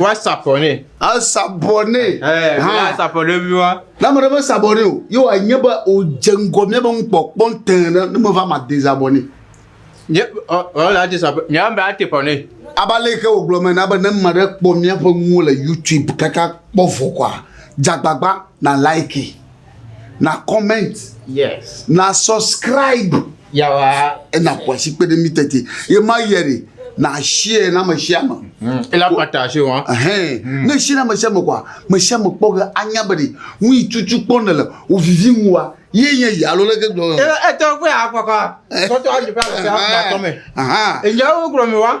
Woasabɔ nɛ. Asabɔ nɛ. Asabɔ nɛ viwa. Ne ame ɖe mesabɔ nɛ o, ye wòanye be wòdze ŋgɔ mía be nukpɔkpɔ tẽ ɖe ne meva ma de zabɔ nɛ. Nye ɔ la de zabɔ. Mía be ate bɔ nɛ. Aba le ke wògblɔ me na be ne ame ɖe kpɔ míaƒe nuwo le YouTube kaka kpɔ vɔ kɔa, dzagbagba na like. na comment yes na subscribe yawa ena kwasi kpe ɖe mi tete ye ma yɛ de na share na me share me mm. ela pata se wa hɛn mm. ne share na me share me kwa me share me kpɔ ge anya be de nu yi tutu kpɔ ne le o vivi ŋu wa ye nye yi alo leke gblɔ e e tɔ kpe akɔkɔ sɔtɔ ayi pa se ha tɔ me aha e nya wo gblɔ mi wa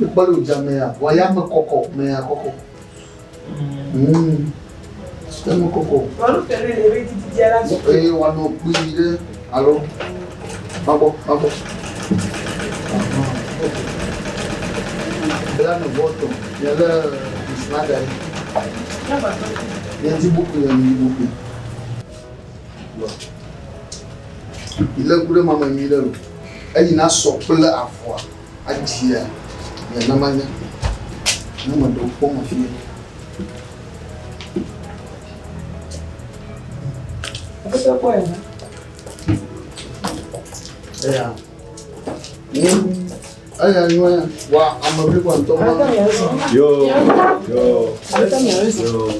Mekpɔ ɖe wòdze amea, wɔ ayame kɔkɔ, mea kɔkɔ. Ayame kɔkɔ. Eye wòanɔ kpui ɖe alo magbɔ, magbɔ. Bla nu bɔtɔ, nye lé bisima da ɖi. Nye ti bukui le nu bukui. Ilé ku ɖe mame nyui ɖe me. Eyi na sɔ kple avɔa adzia mia na manya. Ne me ɖewo kpɔ me fie. Apa tá qual é, né? É. Hum. Eya nyɔe wa ame blibo ŋutɔ ma. Ata mia zɔ. Yo yo. Ata mia zɔ. Yo.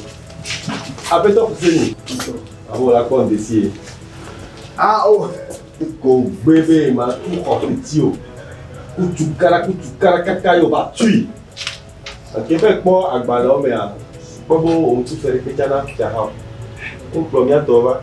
Apetɔ kuseni. Abo la kpɔ ndesi ye. Ah o. Oh. Ko gbe be ma tu xɔ fiti o. Kutu kara kutu kara kaka yo ba tui. Ake be kpɔ agbalẽ wo mea. Kpɔ bo wo ŋutu fere ke tsana fia ha. Wo kplɔ mia tɔ va.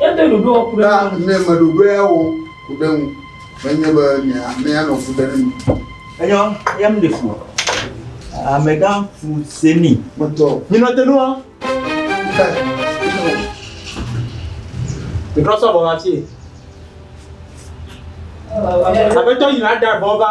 Edo ɖoɖoa ku ɖe ŋu. Ne meɖoɖoa wɔ ku ɖe ŋu, menye be amea nɔ fu ɖe ŋu. Enyɔ, ya mi ɖe fu. Amegã fu se mi. Metɔ. Mi nɔ te nua. Ìtrɔ sɔ bɔ ŋatie. Aƒetɔ yina ɖa bɔ va.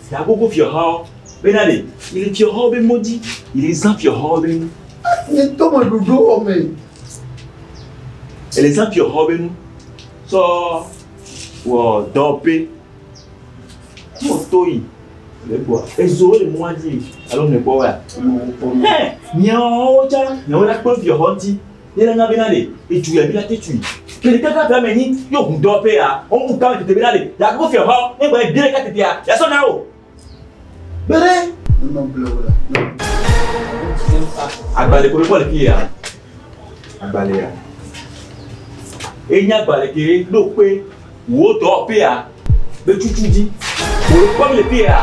Da gbogbo fiɔhawo be na ɖe yele fiɔhawo be mɔ dzi yele zã fiɔhawo be nu. Ni tɔmɔ ɖoɖo wɔ me. Yele zã fiɔhawo be nu sɔ wɔ dɔ pe. Tɔ to yi le gbɔ ezo le mɔa dzi alo mɛ gbɔ wa. Hɛ miawo tsa miawo la kpe fiɔhɔ ŋuti. Ye la na bena le eju ya bena te tui. Ke ɖeka ka bla me nyi yo hu dɔ pe ya. O mu ka tete bena le ya ko fia ha ne gba de ka tete ya. Ya so na o. Bere. No no ble o la. Agbale ko ko le ki ya. Agbale ya. E nya agbale ke do pe. wò dɔwɔƒea ƒe tutu dzi. Wò kpɔ mi ƒea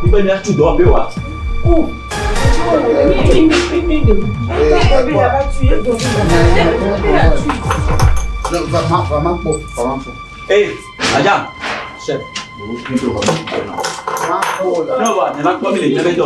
mi be miatu dɔwɔƒe wa. Vama vama kpɔ vama kpɔ. Ee, madam. Chef. N'o wa, ne ma kpɔ mi le ɲɛ bɛ dɔ.